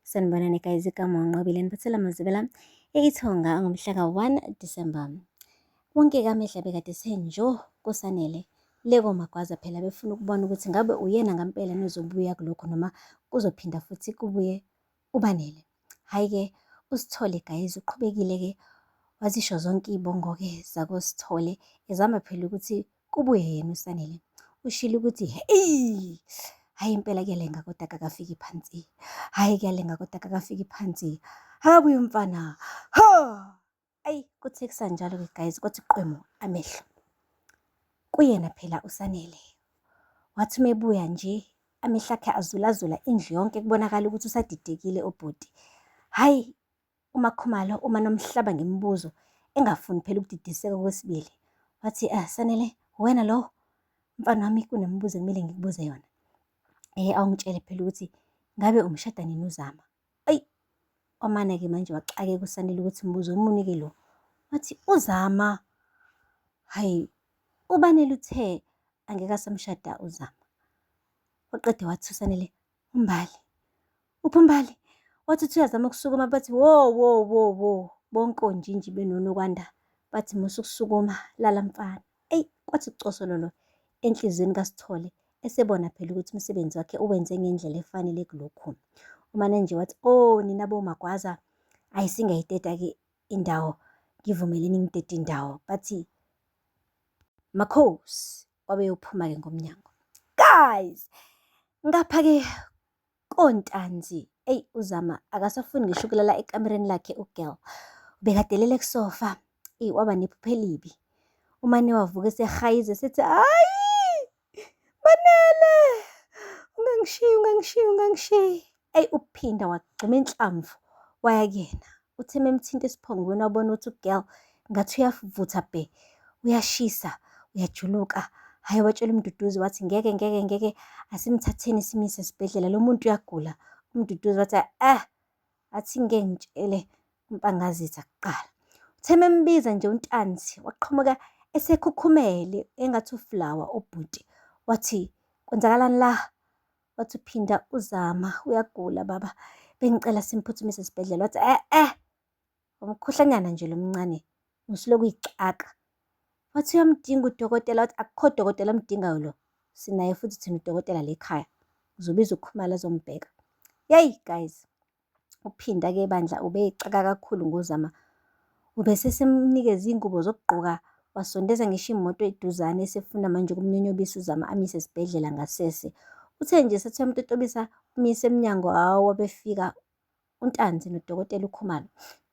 Sanibonani guys, igama uNqobile niphathela Mazibela eIthonga ngomhlaka 1 December. Wonke kamehla bekade senjo kusanele leko magwaza phela befuna ukubona ukuthi ngabe uyena ngampela nozobuya kulokho noma kuzophinda futhi kubuye ubanele. Hayi ke usithole guys uqhubekile ke wazisho zonke iy'bongo-ke zakosithole ezama phela ukuthi Kubuye yena uSanele ushilo ukuthi eyi hhayi impela kuyalenga kodwa kakafiki phansi hhayi kuyalenga kodwa kakafiki phansi hakabuye umfana ho ayi kuthi kusanjalo-ke guys kwathi qwemo amehlo kuyena phela uSanele wathi uma ebuya nje amehlo akhe azulazula indlu yonke kubonakala ukuthi usadidekile ubhuti hhayi UMaKhumalo uma nomhlaba ngemibuzo engafuni phela ukudidiseka okwesibili. Wathi, ah, Sanele, wena lo mfana wami kunemibuzo ekumele ngikubuze yona. Eh, awungitshele phela ukuthi ngabe umshada nini uzama? Ayi, wamane-ke manje waxakeka uSanele ukuthi mbuzo omunike lo. Wathi, uzama, hhayi, ubanele uthe angeke asamshada uzama. Waqede wathi uSanele, umbali uphi umbali wathi uthi uyazama ukusukuma bathi wo wo wo wo bonke onjinji benonokwanda bathi musa ukusukuma lala mfana eyi kwathi kucosololo enhliziyweni kasithole esebona phela ukuthi umsebenzi wakhe uwenze ngendlela efanele kulokhu umane nje wathi o oh, nina bomagwaza ayi singayideda-ke indawo ngivumeleni ngidede indawo bathi makhosi wabeyophuma-ke ngomnyango guys ngapha-ke kontanzi eyi uzama akasafuni ngisho ukulala ekamereni lakhe ugirl ubekadelele kusofa eyi waba nephupha elibi umane wavuka esehayize sethi hayi manele ungangishiyi ungangishiyi ungangishiyi Eyi uphinda wagxuma inhlamvu waya kuyena. Uthe memthinta esiphongweni wabona ukuthi ugirl ngathi uyavutha bhe. Uyashisa, uyajuluka. Hhayi watshela uMduduzi wathi ngeke ngeke ngeke asimthatheni simyise esibhedlela lo muntu uyagula. UMduduzi wathi eh athi ngeke ngitshele uMpangazitha kuqala. Uthe membiza nje uNtanzi waqhamuka esekhukhumele engathi uflawa ubhuti. Wathi kwenzakalani la? wathi uphinda uzama uyagula baba bengicela simphuthumise esibhedlela wathi eh eh umkhuhlanyana nje lomncane ngisilokhu uyixaka wathi uyamdinga udokotela wathi akukho dokotela omdingayo lo sinaye futhi thina udokotela lekhaya ngizobiza ukhumala azombheka yeyi guys UPhinda ke bandla ubeyixaka kakhulu ngoZama. Ubesesemnikeza iy'ngubo zokugqoka wasondeza ngisho imoto eduzane esefuna manje ukumnyonyobisa uZama amise esibhedlela ngasese. Uthe nje esethi uyamtotobisa umyise emnyango hawu wabefika uNtanzi nodokotela uKhumalo.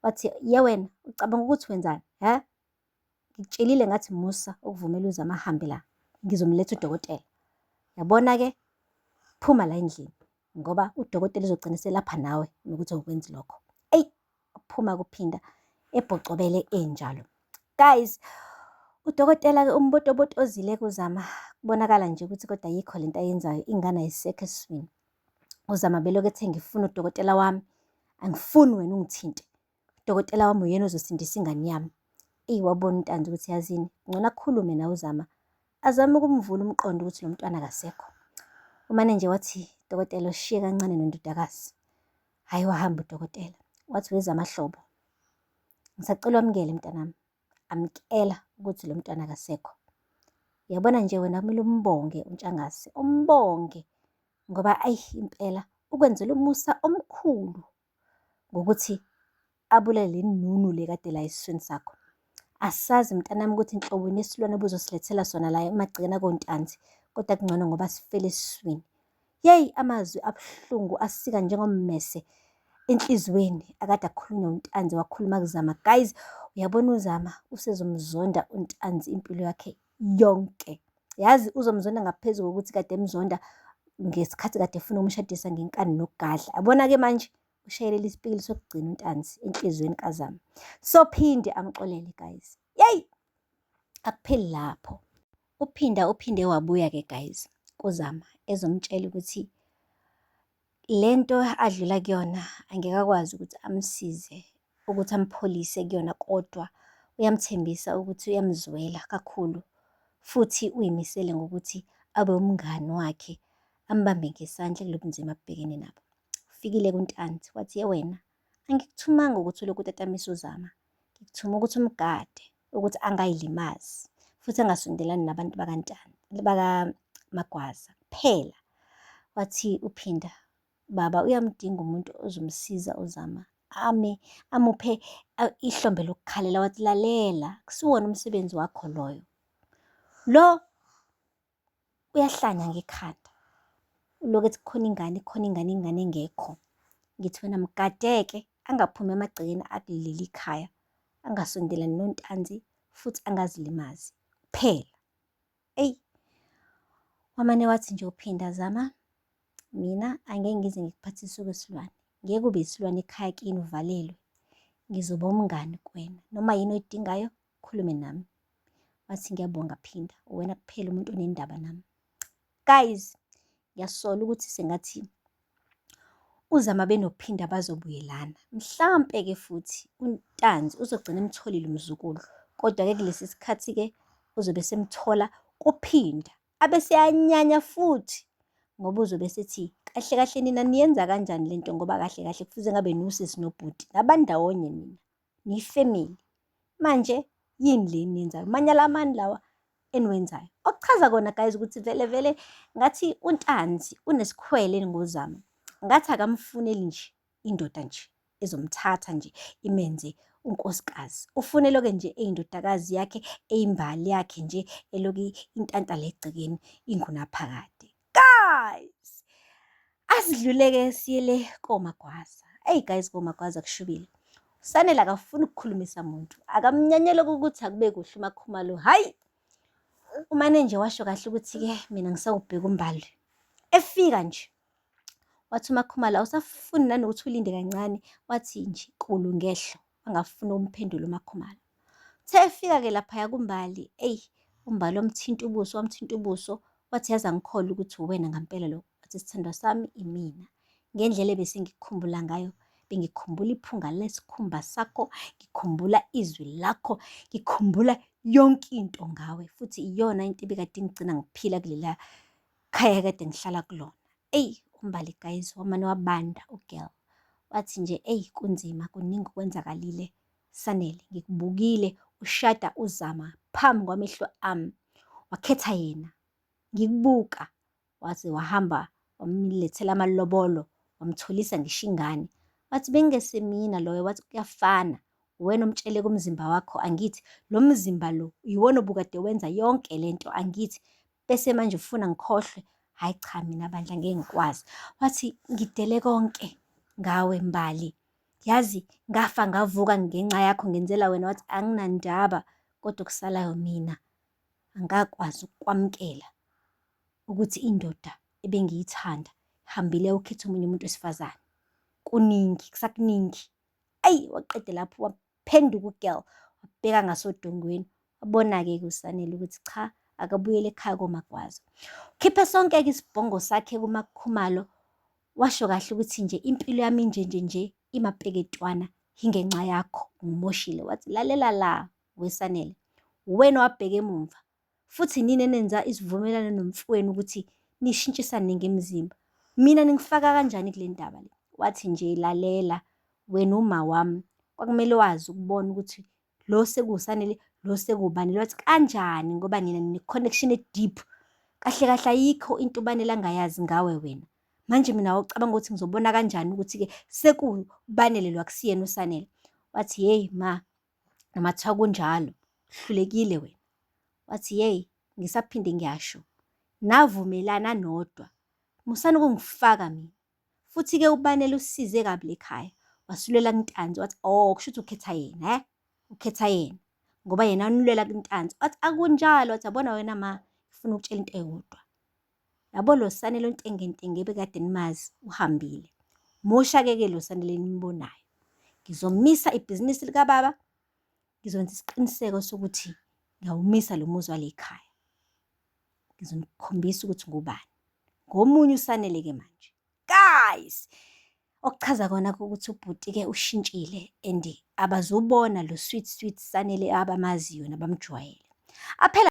Wathi, ye wena ucabanga ukuthi wenzani? Hha? Ngikutshelile ngathi musa ukuvumela uZama ahambe la, ngizomletha udokotela. Yabona-ke, phuma la endlini ngoba udokotela uzogcina selapha nawe nokuthi awukwenzi lokho. Eyi, phuma kuphinda ebhocobele enjalo. Guys, udokotela-ke umbotobotozile kuzama kubonakala nje ukuthi kodwa yikho lento ayenzayo ingane ayisekho esiswini. UZama belokhu ethe ngifuna udokotela wami, angifuni wena ungithinte. Dokotela wami uyena ozosindisa ingane yami. Eyi wabona uNtanzi ukuthi yazini, ngcono akhulume nawe uZama. Azame ukumvula umqondo ukuthi lo mntwana akasekho. Umane nje wathi, dokotela ushiye kancane nondodakazi. Hhayi wahamba udokotela. Wathi weZama hlobo. Ngisacela wamukele mntanami. Amkela ukuthi lo mntwana akasekho. Yabona nje wena kumele umbonge uNtshangase, umbonge ngoba ayi impela ukwenzela umusa omkhulu ngokuthi abulale le nunu le kade la esiswini sakho asazi mntanami ukuthi nhlobo nesilwane obuzosilethela sona la emagcikena kontanzi kodwa kungcono ngoba sifele esiswini yeyi amazwi abuhlungu asika njengommese enhliziyweni akade akhulunywa untanzi wakhuluma kuzama guys uyabona uzama usezomzonda untanzi impilo yakhe yonke. Yazi uzomzonda ngaphezu kokuthi kade emzonda ngesikhathi kade efuna umshadisa ngenkani nokugadla. Abona-ke manje ushayelele isipikili sokugcina untanzi enhliziyweni kazama. Sophinde amxolele guys. Yeyi! Akupheli lapho. Uphinda uphinde wabuya-ke guys kuzama ezomtshela ukuthi Le nto adlula kuyona angeke akwazi ukuthi amsize ukuthi ampholise kuyona kodwa uyamthembisa ukuthi uyamzwela kakhulu futhi uyimisele ngokuthi abe umngani wakhe ambambe ngesandla kulobunzima abhekene nabo. Ufikile kuNtanzi wathi, ye wena Angikuthumanga ukuthi ulokhu utatamisa uzama. Ngikuthuma ukuthi umgade, ukuthi angayilimazi, futhi angasondelani nabantu bakantshani, bakamagwaza kuphela. Wathi uphinda, baba uyamdinga umuntu ozomsiza uzama ame amuphe ihlombe lokukhalela wathi lalela kusiwona umsebenzi wakho loyo lo uyahlanya ngekhanda uloku ethi khona ingane khona ingane ingane engekho ngithi wena mgadeke angaphumi emagcekeni akuleli khaya angasondelani nontanzi futhi angazilimazi kuphela eyi wamane wathi nje uphinda zama mina angeke ngize ngikuphathise okwesilwane ngeke ube isilwane ekhaya kini uvalelwe ngizoba umngani kuwena noma yini oyidingayo khulume nami wathi ngiyabonga phinda uwena kuphela umuntu onendaba nami guys ngiyasola ukuthi sengathi uzama benophinda bazobuyelana mhlampe ke futhi untanzi uzogcina emtholile umzukulu kodwa ke kulesi sikhathi ke uzobe semthola kuphinda abe seyanyanya futhi ngoba uzobe sethi kahle kahle nina niyenza kanjani lento ngoba kahle kahle kufuze ngabe nusisi nobhuti nabandawonye nina niyifamily manje yini le eniyenzayo manyala amani lawa eniwenzayo okuchaza kona guys ukuthi vele vele ngathi untanzi unesikhwele ngozama ngathi akamfuneli nje indoda nje ezomthatha nje imenze unkosikazi ufuneloke nje eyindodakazi yakhe eyimbali yakhe nje eloke intanta legcekeni ingunaphakade guys asidluleke siyele komagwaza eyi guys komagwaza kushubile usanele akafuni ukukhulumisa muntu akamnyanyele ukuthi akube kuhle umakhumalo hhayi umane nje washo kahle ukuthi-ke mina ngisawubheka umbali efika nje wathi umakhumalo awusafuni nanokuthi ulinde kancane wathi nje kulu ngehlo angafuni umphendula umakhumalo Uthe efika-ke laphaya kuMbali, eyi uMbali wamthinta ubuso, wamthinta ubuso, wathi yazi angikholwa ukuthi uwena ngampela lo. Wathi sithandwa sami imina. Ngendlela ebesengikukhumbula ngayo, bengikhumbula iphunga lesikhumba sakho, ngikhumbula izwi lakho, ngikhumbula yonke into ngawe, futhi iyona into ebikade ingigcina ngiphila kulela khaya kade ngihlala kulona. Eyi, uMbali guys wamane wabanda ugirl. Wathi nje eyi kunzima, kuningi okwenzakalile Sanele, ngikubukile ushada uZama phambi kwamehlo ami. Wakhetha yena. Ngikubuka. Waze wahamba wamlethela amalobolo wamtholisa ngisho ingane. Wathi bengesemina loyo wathi kuyafana. Uwena omtshele kumzimba wakho angithi lo mzimba lo yiwona obukade wenza yonke lento angithi bese manje ufuna ngikhohlwe hhayi cha mina bandla ngeke ngikwazi wathi ngidele konke ngawe mbali yazi ngafa ngavuka ngenxa yakho ngenzela wena wathi anginandaba kodwa okusalayo mina angakwazi ukwamukela ukuthi indoda ebengiyithanda hambile ukhetha omunye umuntu wesifazane kuningi kusakuningi ayi waqede lapho phenduka ugirl wabheka ngasodongweni wabona-ke kusanele ukuthi cha akabuyele ekhaya komagwazo khiphe sonke-ke isibhongo sakhe kumakhumalo washo kahle ukuthi nje impilo yami nje nje nje imapeketwana ingenxa yakho ngimoshile wathi lalela la wesanele wena wabheka emumva futhi nini enenza isivumelwano nomfowenu ukuthi nishintshisane ngemizimba mina ningifaka kanjani kule ndaba le wathi nje lalela wena uma wami kwakumele wazi ukubona ukuthi lo sekuwusanele lo sekubani lwathi kanjani ngoba nina nine-connection e-deep kahle kahle ayikho into ubanele angayazi ngawe wena manje mina wawucabanga ukuthi ngizobona kanjani ukuthi-ke sekubanele lwakusiyena usanele wathi yeyi ma noma kuthiwa kunjalo hlulekile wena wathi yeyi ngisaphinde ngiyasho navumelana nodwa musani ukungifaka mina futhi-ke ubanele usize kabi lekhaya wasulela kuntanzi wathi o oh, kusho ukuthi ukhetha yena he ukhetha yena ngoba yena unulwela kuntanzi wathi akunjalo wathi yabona wena ma ngifuna ukutshela into eyodwa Yabo lo Sanele ontengentenge ebekade nimazi uhambile. Moshakeke lo Sanele nimbonayo. Ngizomisa ibhizinisi likababa. Ngizonza isiqiniseko sokuthi ngiyawumisa lo muzi wale khaya. Ngizomkhombisa ukuthi ngubani. Ngomunye uSanele ke manje. Guys! Okuchaza kona ukuthi ubhuti ke ushintshile and abazubona lo sweet sweet Sanele abamaziyo nabamjwayele. Aphela